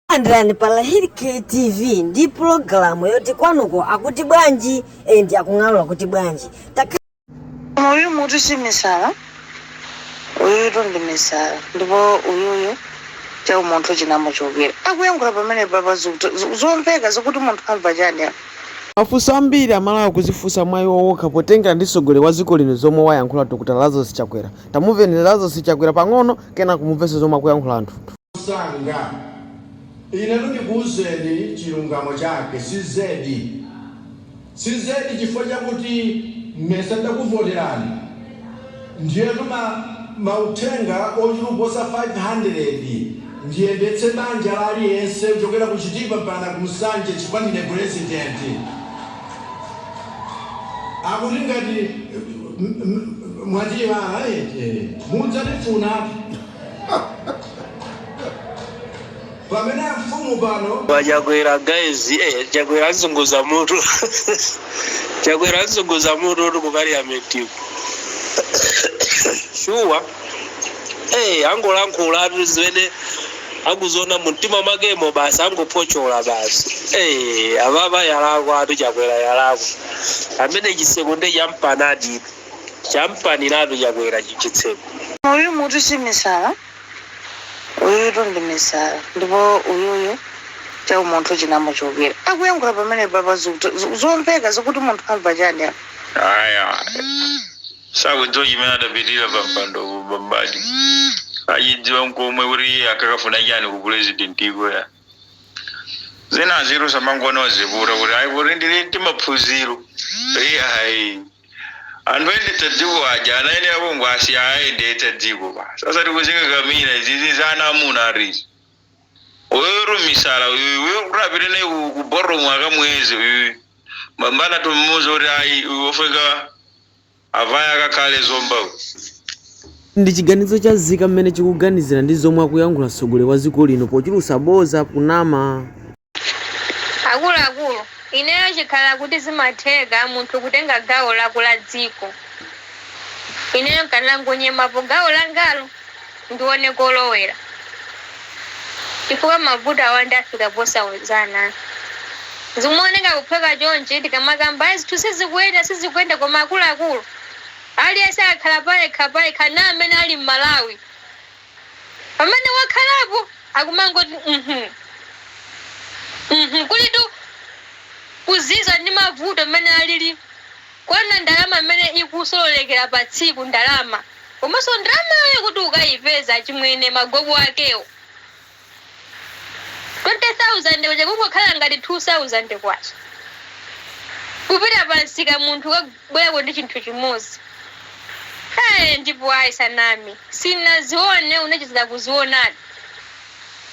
Tikulandirani pa Lahiri KTV ndi pulogalamu yoti kwanuko akuti bwanji ndi akung'alula kuti bwanji Takha- Koma uyu mutu si misala uyutu ndi misala ndipo uyuyu cha umunthu chinamuchokera akuyankhula pamene papa zikuti- zu- zomveka zikuti munthu amva chani apa Mafunso ambiri aMalawi akuzifunsa mwa iwo wokha potengera ndi mtsogoleri wa dziko lino zomwe wayankhula Dr Lazarus Chakwera. Tamumveni Lazarus Chakwera pang'ono kenako mumvenso zomwe akuyankhula anthu. msanga. Inetu ndikuuzeni chilungamo chake, si zedi chifukwa chakuti mesa ndakuvoterani ndiyeno ma ma uthenga ochuluka kuposa 500 ndiyendetse banja la aliyense kuchokera ku chitipa mpakana ku nsanje chifukwa ndine president. Akuti ngati mm mm mwatiiwala eti ee mudzatifunatu. pamene amfumu pano Kwa chakwera guys eh chakwera azunguza mutu chakwera azunguza mutu kuti ku parliament uko. shuwa eh angolankhula atu zimene akuziona mumtima makemo basi angopochola basi eh avaya yalakwa atu chakwera yalakwa amene chitsekonde champanadi Champaniratu chakwera chi chitseko. Uyu mutu si misala uyutu ndi misala ndipo uyuyu chaumunthu chinamuchokera akuyankhula pamenepapa zikuti- zo- zomveka zikuti munthu amva chani apa aya sakudziwa chimene adapitira pa mpando mbambadi sachidziwa nkomwe kuti iye akakafuna chani ku pulezidentiko ya zinazitu, samangoziputa kuti ayi poti ndili ndi maphunziro iyayi Anthu oyendetsa dziko aja anayenera kungo asiya ayendetsa dziko basi osati kuzikakamira izizi za ana amuna ati izi. Uyutu misala uyu uyu kuti apite naye ku, ku Borom akamuyeze uyu. Mbambadi tumuuze kuti ayi uyu ofunika avaya akakhale Zomba uyu. Ndi chiganizo cha nzika mmene chikuganizila ndi zomwe akuyankhula mtsogoleri wa dziko lino pochulusa boza, kunama. Akuluakulu ineyo chikhala kuti zimatheka munthu kutenga gawo lako la dziko ineyo nkanangonyemapo gawo langalo ndione kolowera chifukwa mavuto awa nde afika posauzana. Zimaoneka kuphweka chonchi tikamakamba ayi zinthu sizikuyenda sizikuyenda koma akuluakulu aliyense akakhala payekha payekha naye amene ali mmalawi pamene wakhalapo akumangoti uhu uhu kulitu kuzizwa ndi mavuto mmene alili kuona ndalama imene ikusololekera pa tsiku ndalama komanso ndalamayo kuti ukayipeza chimwene magobo akewo 20,000 kwacha kungokhala ngati 2,000 kwacha kupita pa msika munthu ukabwerako ndi chinthu chimodzi hey, ndipo ayi saname sinazione unachitira kuzionadi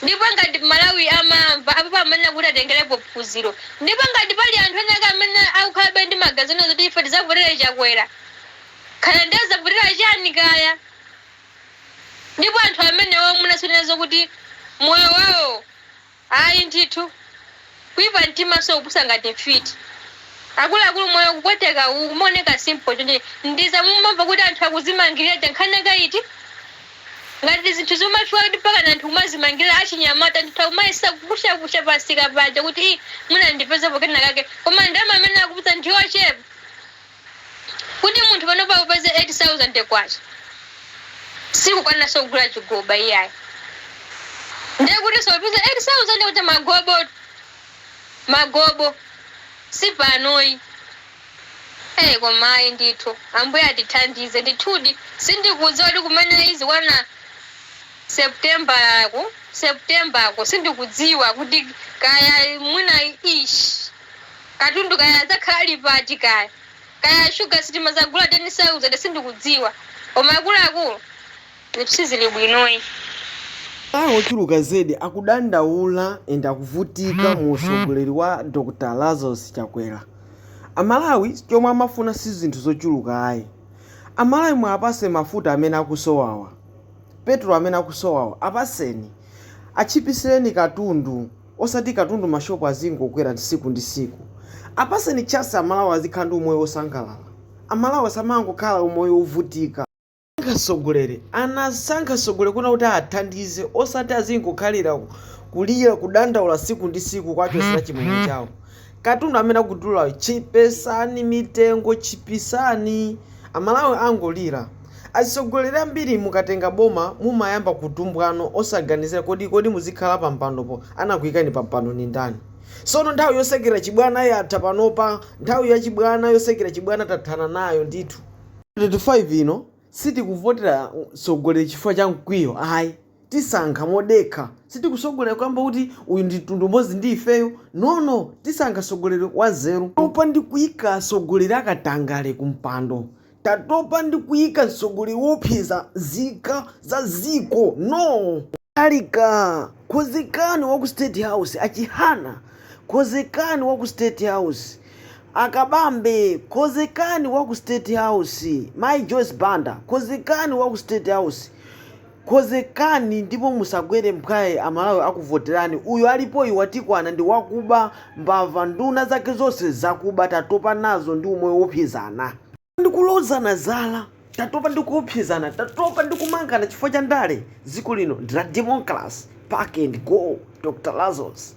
ndipo ngati malawi amamva apopa amayenera kuti atengerepo phunziro ndipo ngati pali anthu ena ake amene akukhalabe ndi maganizo oti ife tizavotere chakwera kaya ndiye zavotera chani kaya Ndipo anthu amenewo munasonyeza zokuti moyo wawo, ayi ndithu, kuipa mtimanso kupusa ngati mfiti. Akuluakulu moyo kupweteka uwu kumaoneka simple chonchi ndi za mumamva kuti anthu akuzimangirira aja nkhani yake iti? Ngati zinthu zomafika kuti mpakana anthu kumazimangirira achinyamata ndithu akumayesa kupushapusha pamsika paja kuti ii mwina ndipezepo kenakake koma ndalama amene akupeza ndi ochepa. kuti munthu panopa upeze K8000 sikukwaniraso kugula chigoba iyayi ndekutiso upeze 8000 kwacha magobo magobo sipanoyi ee koma ayi ndithu ambuye atithandize ndithudi sindikudziwa kuti kumene izikwana September ku September ku sindikudziwa kuti kaya mwina ish Katundu kaya adzakhala ali pati kaya. Kaya sugar sitimazagula 10,000 sindikudziwa. Koma akuluakulu zinthu sizili bwinoyi. A Malawi ochuluka zedi akudandaula and akuvutika mu utsogoleri wa Dr Lazarus Chakwera. A Malawi chomwe amafuna si zinthu zochuluka ayi. A Malawi muwapase mafuta amene akusowawa. Petrol amene akusowawa apatseni. Atchipisileni katundu. osati katundu ma shop azingokwera tsiku ndi tsiku. Apatseni chance amalawi azikhala ndi umoyo osangalala. Amalawi asamangokhala umoyo ovutika. Kusankha tsogoleri anasankha tsogoleri kufuna kuti athandize osati azingokhalira kulira kudandaula tsiku ndi tsiku kuwachotsera chimwemwe chawo. Katundu amene akudulayo chepetsani mitengo, tchipisani. Amalawi angolira. Azitsogoleri ambiri mukatenga boma mumayamba kutumbwano osaganizira kodi kodi muzikhala pampandopo anakuikani pampando ndindani? Sono nthawi yosekera chibwana yatha panopa nthawi yachibwana yosekera chibwana tathana nayo ndithu. 2025 ino sitikuvotera mtsogoleri chifukwa cha mkwiyo ayi. Tisankha modekha. Sitikusogolera kamba kuti uyu ndi mtundu umodzi ndi ifeyo. No no! Tisankha tsogoleri wa nzeru. Tatopa ndi kuyika atsogoleri a katangale ku mpando. Tatopa ndi kuyika mtsogoleri woopseza nzika za dziko. No! Mutharika! Khozekani wa ku State House! A Chihana! Khozekani wa ku State House! A Kabambe! Khozekani wa ku State House! Mayi Joyce Banda! Khozekani wa ku State House! Konzekani ndipo musagwere mphwayi aMalawi akuvoterani uyu alipoyu watikwana ndi wakuba, mbava, nduna zake zonse zakuba tatopa nazo ndi umoyo woopsezana ndi kulozana zala, tatopa ndi kuopsezana, tatopa ndi kumangana chifukwa cha ndale, dziko lino ndi la democracy, pack and go Dr Lazarus.